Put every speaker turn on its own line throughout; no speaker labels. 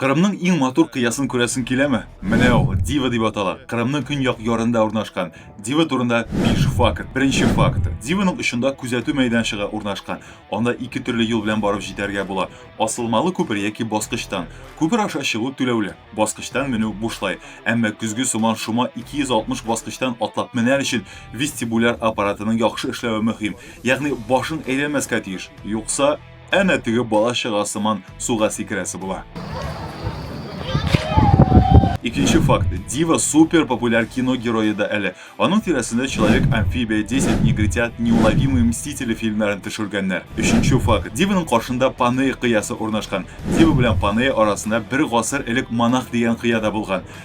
Кырымның иң матур кыясын күрәсең киләме? Менә ул, Дива дип атала. Кырымның көньяк ярында урнашкан. Дива турында биш факт. Беренче факт. Диваның очында күзәтү мәйданчыгы урнашкан. Анда ике төрле юл белән барып җитәргә була. Асылмалы күпер яки баскычтан. Күпер аша чыгу түләүле. Баскычтан менү бушлай. Әмма көзге сыман шома 260 баскычтан атлап менәр өчен вестибуляр аппаратының яхшы эшләве мөһим. Ягъни башың әйләнмәскә тиеш. Юкса. әнә теге бала чага сыман суга сикерәсе була. Икенче факт. Дива супер популяр кино герое да әле. Аның тирәсендә Человек амфибия, 10 негритят, Неуловимые мстители фильмнарын төшергәннәр. Өченче факт. Диваның каршында Панея кыясы урнашкан. Дива белән Панея арасында бер гасыр элек монах дигән кыя да булган.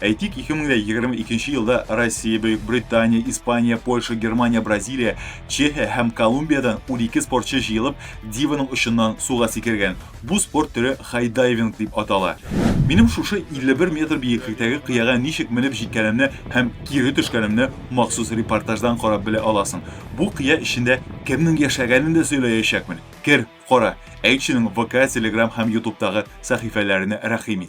Әйтик, 2022 нче елда Россия, Бөек Британия, Испания, Польша, Германия, Бразилия, Чехия һәм Колумбиядән 12 спортчы җыелып, диваның очыннан суга сикергән. Бу спорт төре хайдайвинг дип атала. Минем шушы 51 метр биеклектәге кыяга ничек менеп җиткәнемне һәм кире төшкәнемне махсус репортаждан карап белә аласың. Бу кыя эчендә кемнең яшәгәнен дә сөйләячәкмен. Кер, кара. Әйтченең ВК, Телеграм һәм Ютубтагы сәхифәләренә рәхим ит.